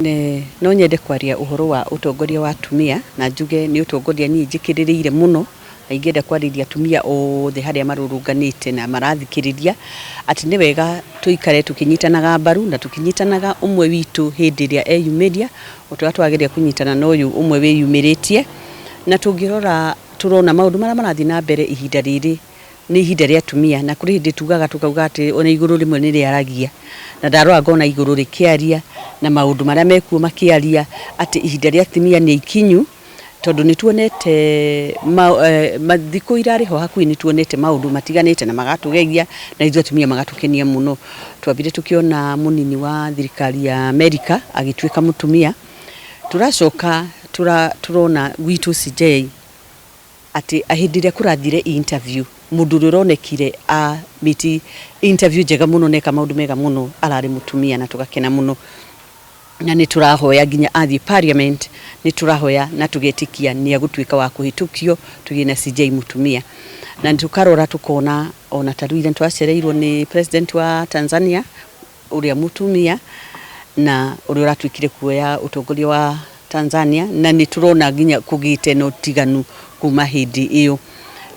Ne, no nyende kwaria uhoro wa utongoria wa atumia na njuge ni utongoria nyinyi njikiririire muno na ingĩenda kwarĩria atumia othe harĩa marũrũnganĩte na marathikĩrĩria atĩ nĩ wega tũikare tũkĩnyitanaga mbaru na tũkĩnyitanaga ũmwe witũ hĩndĩ ĩrĩa eyumĩria ũrĩa twagĩrĩire kũnyitana na ũyũ ũmwe wĩyumĩrĩtie na tũngĩrora Tũrona maũndũ marĩa marathiĩ na mbere ihinda rĩrĩ nĩ ihinda rĩa atumia na kũrĩ hĩndĩ tugaga tũkauga atĩrĩ ona igũrũ rĩmwe nĩ rĩaragia na ndarora ngona igũrũ rĩkĩaria na maũndũ marĩa mekuo makĩaria atĩ ihinda rĩa atumia nĩ ikinyu tondũ nĩ tuonete thikũ irarĩ ho hakuhĩ nĩ tuonete maũndũ matiganĩte na magatũgegia na ithuĩ atumia magatũkenia mũno. Twambire tũkĩona mũnini wa thirikari ya Amerika agĩtuĩka mũtumia. Tũracoka tũrona gwitũ CJ atĩ hĩndĩ ĩrĩa kũrathire interview, mũndũ ũrĩa ũronekire a meet interview njega mũno na eka maũndũ mega mũno ararĩ mũtumia na tũgakena mũno. Na nĩ tũrahoya nginya athiĩ parliament nĩ tũrahoya na tũgetĩkia nĩ egũtuĩka wa kũhĩtũkio tũgĩe na CJ mũtumia. Na tũkarora tũkona ona ta rĩu ira nĩ twacereirwo nĩ president wa Tanzania ũrĩa mũtumia na ũrĩa ũratuĩkire kuoya ũtongoria wa Tanzania na nĩ tũrona nginya kũgĩte na ũtiganu kuma hĩndĩ ĩyo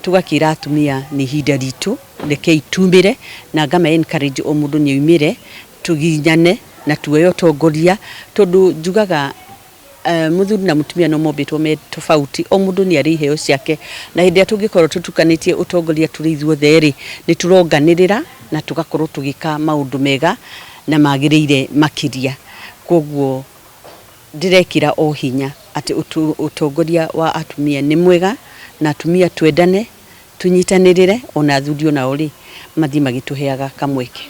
tũgakĩra atumia nĩ ihinda ritũ rekei tumĩre na ngama encourage o mũndũ nĩ aumĩre tũginyane na tuoye ũtongoria tondũ njugaga Eh, muthuri na mutumia no mombĩtwo me tofauti o mundu ni ari iheo ciake na hindi ya tungikorwo tutukanitie utongoria turi ithuothe ri ni turonganirira na tugakorwo tugika maundu mega na magirire makiria koguo ndirekira o hinya ati utongoria wa atumia ni mwega na atumia twendane tunyitanirire ona athuri onao ri mathii magituheaga kamweke